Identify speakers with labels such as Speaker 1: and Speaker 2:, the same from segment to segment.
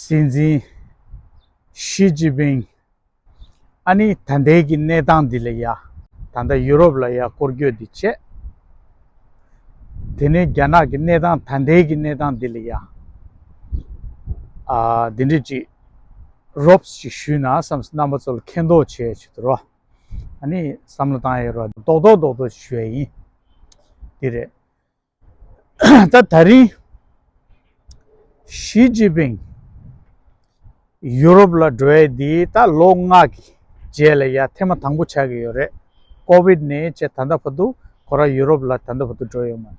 Speaker 1: སྲིད་འཛིན། ཞི་ཅིན་ཕིང། ཨ་ནི་ད་ལྟའི་གི་གནས་སྟངས་འདི་ལ་ཡ། ད་ལྟ་ཡུ་རོབ་ལ་ཡ་སྐོར་སྐྱོད་འདི་བྱས། དེ་ནི་རྒྱ་ནག་གི་གནས་སྟངས་ད་ལྟའི་གི་གནས་སྟངས་འདི་ལ་ཡ། འདི་འདྲི་ཅིག་རོབས་ཅིག་ཞུས་ན་བསམ་སི་རྣམ་པ་ཚོ་ལ་མཁས་མདོག་བྱས་ཡོད་ཆུ་དོ་རོ། ཨ་ནི་བསམ་བློ་བཏང་ཡོད་རོ་རྡོག་རྡོག་རྡོག་རྡོག་ཅིག་ཞུ་ཡ་ཡིན། འདི་རེད། ད་ད་རིང་ཞི་ཅིན་ཕིང་ཡུ་རོབ་ལ་འགྲོ་ཡས་འདི་ད་ལོ་ལྔ་གི་རྗེས་ལ་ཡ་ཐེ་མ་དང་པོ་ཆགས་ཀྱི་ཡོད་རེད་ཀོ་བིད་ནས་ཅེས་ད་ལྟ་བར་དུ་ཁོ་རང་ཡུ་རོབ་ལ་ད་ལྟ་བར་དུ་འགྲོ་ཡོད་མ་རེད།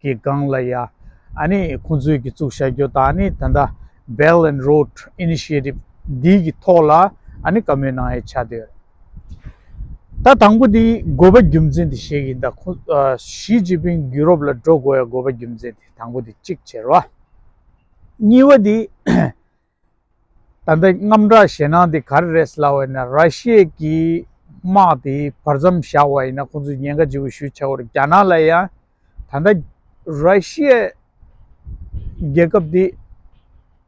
Speaker 1: གི་སྒང་ལ་ཡང་ཨནི་ཁོང་ཚོས་ཀྱིས་བཙུགས་བྱ་རྒྱུ་དང་ཨནི་ད་ལྟ Belt and Road Initiative འདི་གི་ཐོག་ལ་ཨནི་བཀའ་མོལ་གནང་ཡ་ཆ་དེ་རེད། ད་དང་པོ་དེ་དགོས་པ་རྒྱུ་མཚན་དེ་ཞིག་ཡིན་ད་ཁོང་ཞི་ཅིན་ཕིང་ཡུ་རོབ་ལ་འགྲོ་དགོས་ཡ་དགོས་པ་རྒྱུ་མཚན་དེ་དང་པོ་དེ་གཅིག་བྱེད་རོགས། གཉིས་པ་དེ། ད་ལྟའི་རྔམ་སྒྲ་ཞེད་སྣང་དེ་ག་རེ་རེད་ཟེར་ལབ་བ་ཡིན་ན་ར་ཤི་ཡའི་གིས་དམག་དེ་བར་མཚམས་བཞག་བ་ཡིན་ན་ཁོང་ཚོས་ཉེན་ཁ་ལྗི་བོ་ཞུ་ཆེ་བར་རྒྱ་ནག་ལ་ཡང་ད་ལྟ་ར་ཤི་ཡའི་རྒྱལ་ཁབ་དེ་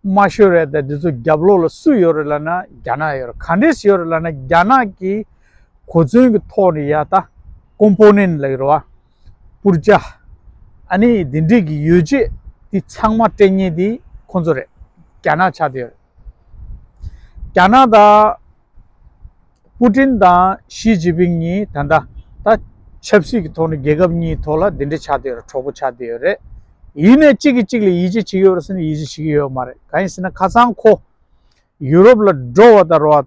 Speaker 1: དམའ་ཤོས་རེད་ད་དེ་ཚོ་རྒྱབ་ལོག་ལ་སུ་ཡོད་རེད་ལབ་ན་རྒྱ་ནག་ཡོད་རེད་ག་འདྲས་སུ་ཡོད་རེད་ལབ་ན་རྒྱ་ནག་གིས་གོ་མཚོན་གི་ཐོག་ནས་ཡ་ད་ཀོང་པོ་ནན་ལ་ཡོད་རེད་བ། པུར་བཅའ། ཨ་ནི་འདི་འདྲིས་ཀྱི་ཡོ་བྱད་འདི་ཚང་མ་སྤྲད་ཉེ་འདི་ཁོ་ཚོ་རེད། རྒྱ་ནག་ཆགས་འདི་ཡོད་རེད། རྒྱ་ནག་དང། པུ་ཏིན་དང་ཞི་ཅིན་ཕིན་གཉིས་ད་ལྟ་ད་ཆབ་སྲིད་ཀྱི་ཐོག་ནས་རྒྱལ་ཁབ་གཉིས་ཐོག་ལ་འདི་འདྲི་ཆགས་འདི་ཡོད་རེད་གྲོགས་པོ་ཆགས་འདི་ཡོད་རེད། ཡིན་ནས་གཅིག་གིས་གཅིག་ལ་ཡིད་ཆེས་བྱེད་ཀྱི་ཡོད་རེད་ཟེར་ནས་ཡིད་ཆེས་བྱེད་ཀྱི་ཡོད་མ་རེད་གང་ཡིན་ཟེར་ན་ཁ་སང་ཁོ་ཡུ་རོབ་ལ་འགྲོ་བ་དང་རོ།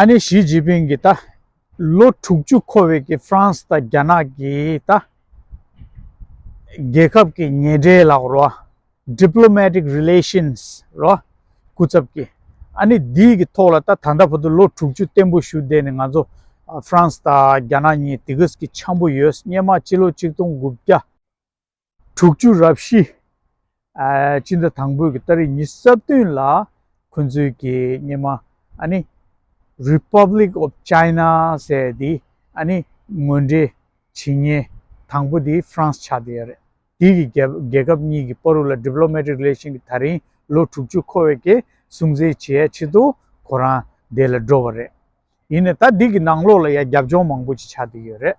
Speaker 1: ཨ་ནེ་ཞི་ཅིན་ཕིང་གིས་ད་ལོ་དྲུག་ཅུ་འཁོར་བའི་ཀྱི་ཧྥ་རན་སི་དང་རྒྱ་ནག་གི་ད་རྒྱལ་ཁབ་ཀྱི་ཉེ་འབྲེལ་ལགས་རོ Diplomatic Relations རོ་སྐུ་ཚབ་ཀྱི་ཨ་ནེ་འདི་གི་ཐོག་ལ་ད་ད་ལྟ་བར་དུ་ལོ་དྲུག་ཅུ་བརྟན་པོ་ཞུ་བསྡད་ནས་ང་ཚོ་ཧྥ་རན་སི་དང་རྒྱ་ནག་གཉིས་དེ་གིས་ཀྱི་འཆམ་པོ་ཡོད་སྙེ་མ་སྤྱི་ལོ་གཅིག་སྟོང་དགུ་བརྒྱ། དྲུག་བཅུ་རབ་བཞི། སྤྱི་ཟླ་དང་པོའི་ད་རེས་ཉི་ས་བདུན་ལ་ཁོ་ཚོའི་གི་སྙེ་མ་ཨ་ནི། Republic of China། ཟེར་ཡ་དེ་ཨ་ནི་ངོས་འབྲེལ་བྱེད་སྙེ་དང་པོ་དེ France ཆགས་བསྡད་ཡ་རེད། དེའི་གི་རྒྱལ་ཁབ་གཉིས་གི་པོ་རུ་ལ Diplomatic Relation གི་ད་རིང་ལོ་དྲུག་བཅུ་འཁོར་བའི་གི་སྲུང་བརྩི་བྱེད་ཡ་ཆེད་དུ་ཁོ་རང་བསྡད་ལ་འགྲོ་བ་རེད། ཡིན་ནས་ད་དེ་གི་ནང་ལོགས་ལ་ཡ་རྒྱབ་ལྗོངས་མང་པོ་ཅིག་ཆགས་བསྡད་ཡོད་རེད།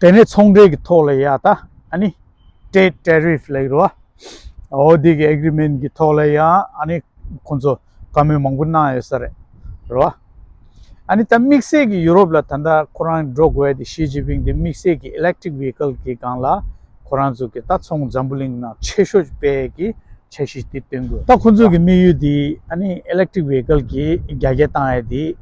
Speaker 1: དེ་ནས་ཚོང་འབྲེལ་གྱི་ཐོག་ལ་ཡ་ད་ཨ་ནི། Trade Tariff། ལ་ཡི་རུ་ཨ་འོ་དེ་གི Agreement གྱི་ཐོག་ལ་ཡ་ཨ་ནི། ཁོང་ཚོ་བཀའ་མོལ་མང་པོ་གནང་ཡོད་ས་རེད་རུ་ཨ། ཨ་ནི་ད་དམིགས་བསལ་གྱི་ཡུ་རོབ་ལ་ད་ལྟ་ཁོ་རང་འགྲོ་དགོས་ཨ་དེ Xi Jinping དེ་དམིགས་བསལ་གྱི Electric Vehicle གྱི་སྒང་ལ་ཁོ་རང་ཚོ་གི་ད་ཚོང་འཛམ་བུ་གླིང་ནང་ཆེ་ཤོས་སྤེལ་གྱི་འཆར་གཞི་དེ་བཏོན་དགོས་ད་ཁོང་ཚོ་གི་དམིགས་ཡུལ་དེ་ཨ་ནི Electric Vehicle གྱི་རྒྱ་སྐྱེད་བཏང་ཡ་དེ།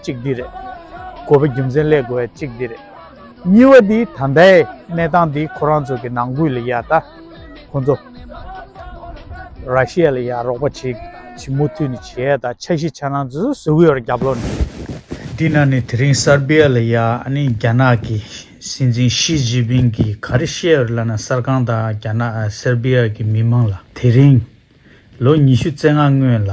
Speaker 1: གཅིག་འདི་རེད། དགོས་པའི་རྒྱུ་མཚན་ལས་དགོས་པ་གཅིག་འདི་རེད། གཉིས་པ་འདི་ད་ལྟའི་གནས་སྟངས་འདི་ཁོ་རང་ཚོ་གི་ནང་ཁུལ་ལ་ཡ་ད་ཁོ་ཚོ་ར་ཤི་ཡ་ལ་ཡ་རོགས་པ་བྱེད་བྱེད་མུ་མཐུད་ནས་བྱེད་ཡ་ད་ཆ་གཞི་ཆ་ནང་ཚོ་སུ་ཡོད་ར་རྒྱབ་ལོག་ནས། དེ་ན་ནས་དེ་རིང་སར་བྷི་ཡ་ལ་ཡ་ནི་རྒྱ་ནག་གི་སྲིད་འཛིན་ཤི་ཇི་པིན་གི་ག་རེ་བཤད་ཡོད་ལ་ན་གསར་ཁང་དང་རྒྱ་ནག་སར་བྷི་ཡ་གི་མི་མང་ལ་དེ་རིང་ལོ་ཉི་ཤུ་རྩེ་ལྔ་སྔོན་ལ་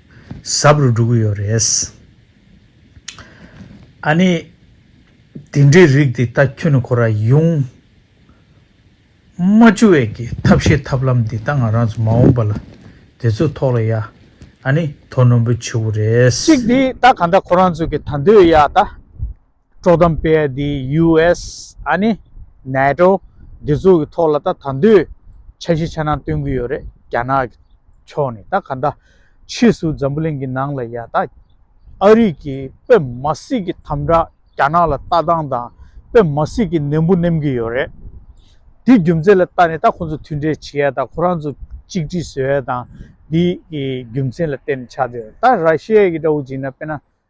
Speaker 1: ཟབ་རུ་འགྲོ་གི་ཡོད་རེད། ཨ་ནི། དེ་འདྲའི་རིགས་དེ་ད་ཁྱོད་ནི་ཁོ་ར་ཡུང། རྨ་ཆུ་བས་ཀྱི་ཐབས་ཤེས་ཐབས་ལམ་འདི་ད་ང་རང་ཚོ་མ་འོངས་པ་ལ་དེ་ཚོའི་ཐོག་ལ་ཡ། ཨ་ནི་དོ་ནོམ་པོ་བྱེད་དགོས་རེད། གཅིག་དེ་ད་ག་འདྲ་ཁོ་རང་ཚོ་གི་ད་འདོད་ཡ་ད། དཀྲོག་གཏམ་སྤེལ་བ་འདིས US ཨ་ནི NATO འདི་ཚོ་གི་ཐོག་ལ་ད་ད་འདོད་འཆར་གཞི་ཆ་ནང་སྟོན་གི་ཡོད་རེད་རྒྱ་ནག་གི་ཕྱོགས་ནས་ད་ག་འདྲ་ཕྱིས་སུ་འཛམ་བུ་གླིང་གི་ནང་ལ་ཡང་ད་ཨ་རིག་གི་དཔེ་མ་སྲིད་གི་དམ་དྲག་རྒྱ་ནག་ལ་ལྟ་སྟངས་དང་དཔེ་མ་སྲིད་གི་ནན་པོ་ནེམ་གི་ཡོད་རེད་འདི་རྒྱུ་མཚན་ལ་ལྟ་ནས་ད་ཁོང་ཚོ་མཐུན་འབྲེལ་བྱེད་ཡ་ད་ཁོ་རང་ཚོ་གཅིག་སྒྲིལ་བཟོས་ཡ་དང་འདི་རྒྱུ་མཚན་ལ་བརྟེན་ནས་ཆགས་འདི་ཡོད་རེད་ད་ར་ཤི་ཡའི་གི་འདྲ་བོ་བྱིན་ན་དཔེ་ན།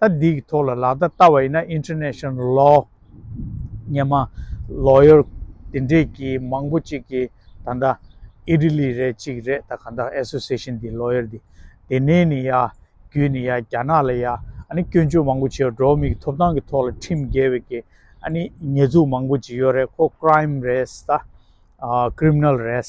Speaker 1: ད་འདི་གི་ཐོག་ལ་ལག་བརྡ་བལྟ་བ་ཡིན་ན International Law སྙན་མ Lawyer དེ་འདྲས་ཀྱི་མང་པོ་ཅིག་གི་ད་ལྟ Italy རེད་ཅིག་རེད་ད་གང་ལྟར Association དེ Lawyer དེ་དེ་ནས་ནི་ཡ་བརྒྱུད་ནི་ཡ་རྒྱ་ནག་ལ་ཡ་ཨ་ནི་སྐྱོན་བརྗོད་མང་པོ་བྱེད་འགྲོ་མིག་ཐོབ་ཐང་གི་ཐོག་ལ་ཁྲིམས་འགལ་བའི་གི་ཨ་ནི་ཉེས་འཛུགས་མང་པོ་ཅིག་ཡོད་རེད་ཁོ Crime རེད་ད Criminal རེད།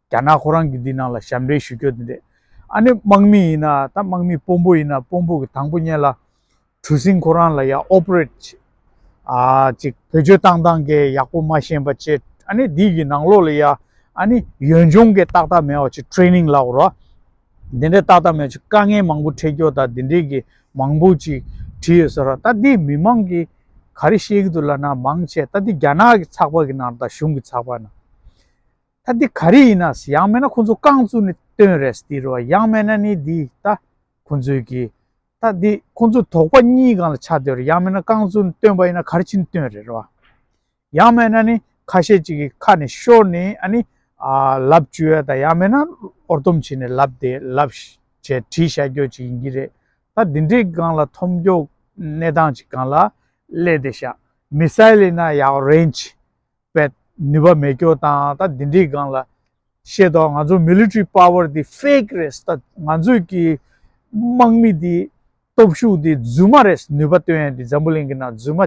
Speaker 1: རྒྱ་ནག་ཁོ་རང་གི་འདི་ནང་ལ་ཞབས་འདྲེན་ཞུ་སྐྱོ་དེ་འདྲས་ཨ་ནི་དམག་མི་ཡིན་ན་ད་དམག་མི་དཔོན་པོ་ཡིན་ན་དཔོན་པོ་གི་དང་པོ་བརྙན་ལ་གྲུ་སིང་ཁོ་རང་ལ་ཡ operate བྱེད་ཨ་ཅིག་བོད་ཆོས་བཏང་བཏང་གེ་ཡག་པོ་མ་ཤེས་པ་ཅེ་ཨ་ནི་འདི་གི་ནང་ལོག་ལ་ཡ་ཨ་ནི་ཡོན་སྦྱོང་གེ་ཏག་ཏག་མེད་བ་ཅིག training ལགས་རོགས་དེ་འདྲས་ཏག་ཏག་མེད་ཅིག་དཀའ་ངལ་མང་པོ་འཕྲད་སྐྱོ་ད་དེ་འདྲས་གི་མང་པོ་ཅིག་བྲིས་ཡོད་ས་རོགས་ད་འདི་མི་མང་གི་ག་རེ་ཤེས་གི་འདུག་ལ་ན་མང་ཆེ་ད་འདི་རྒྱ་ནག་གི་ཚགས་པ་གི་ནང་ད་གཞུང་གི་ཚགས་པ་ནང། ད་འདི་ག་རེ་ཡིན་ནས་ཡང་མེད་ན་ཁོ་ཚོ་རྐང་བཙུགས་ནས་བཏོན་རེད་ཟེར་རོ་ཡང་མེད་ན་ནི་འདི་ད་ཁོ་ཚོའི་གི་ད་འདི་ཁོ་ཚོ་དོགས་པ་གཉིས་གང་ལ་ཆགས་བསྡད་རོ་ཡང་མེད་ན་རྐང་བཙུགས་ནས་བཏོན་པ་ཡིན་ན་ག་རེ་ཕྱིན་བཏོན་རེད་རོ། ཡང་མེད་ན་ནི་ཁ་ཤས་ཅིག་གི་ཁ་ནས་ཤོར་ནས་ཨ་ནི་ལབ་བཅུ་ཡོད་ད་ཡང་མེད་ན་ཨོར་དོམ་བྱས་ནས་ལབ་བསྡད་ལབ་བྱས་བྲིས་བྱ་རྒྱོ་ཅིག་ཡིན་གྱི་རེད་ད་འདི་འདྲའི་གང་ལ་འཐོམ་རྒྱོ་གནས་སྟངས་ཅིག་གང་ལ་སླེབས་བསྡད་ཤག་མི་སལ་ལེ་ན་ཡའོ་རེན་ཅི་པའི་ནུས་པ་མེད་སྐྱོ་དང་ད་འདི་འདྲིའི་སྒང་ལ་བཤད་དོག་ང་ཚོ Military Power འདི Fake རེད་ད་ང་ཚོས་ཀྱི་དམག་མི་འདི་སྟོབས་ཤུགས་འདི་རྫུན་མ་རེད་ནུས་པ་སྟོན་ཡ་འདི་འཛམ་བུ་གླིང་གི་ནང་རྫུན་མ་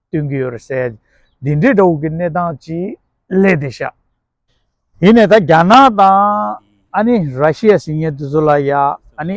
Speaker 1: སྟོན་གྱི་ཡོད་རེད་འདི་འདྲའི་དགྲ་བོ་གི་གནས་སྟངས་ཅིག་ལས་འདི་ཤ་ཡིན་ནས་ད་རྒྱ་ནག་དང་ཨ་ནི Russia སི་ཉེ་དུ་ཚོ་ལ་ཡ་ཨ་ནི་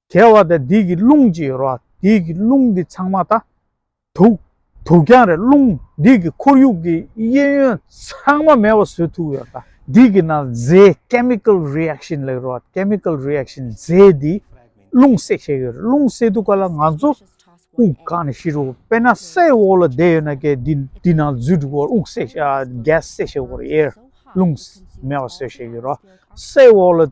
Speaker 1: གལ་བ་དང་དིག་གི་རླུང་ཅི་ཡོད་རོ། དིག་གི་རླུང་འདི་ཚང་མ་དང། དུག། དུག་ཀྱང་རེད་རླུང་དིག་གི་ཁོར་ཡུག་གི་གཡས་གཡོན་ཚང་མ་མེད་བ་སོས་ཐུག་ཡོད། དིག་གི་ནང་རྫས Chemical Reaction ལེགས་རོ། Chemical Reaction རྫས་འདིས་རླུང་བསྲེག་བྱས་ཡོད་རེད་རླུང་བསྲེག་ཐུག་ག་ལ་ང་ཚོ་དབུགས་གང་ནས་ཤི་རོ། དཔེར་ན་སའི་འོག་ལ་བསྡད་ཡོད་ན་ཀའི་འདི་འདི་ནང་འཛུལ་འགྲོ་གོ་དབུགས་བསྲེག་བྱས Gas བསྲེག་བྱས་ཡོད་རེད Air རླུང་མེད་བ་སོས་བྱས་ཡོད་རོ། སའི་འོག་ལ་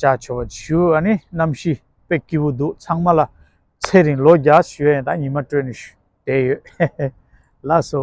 Speaker 1: བྱ་ཆོ་བ་བྱིའུ་ཨ་ནི་རྣམ་ཤེས་དཔེ་སྐྱིད་པོ་འདུག་ཚང་མ་ལ་ཚེ་རིང་ལོ་བརྒྱ་བཞུ་ཡན་དང་ཉི་མ་སྤྲོད་ནས་བསྡད་ཡོད་ལགས་སོ།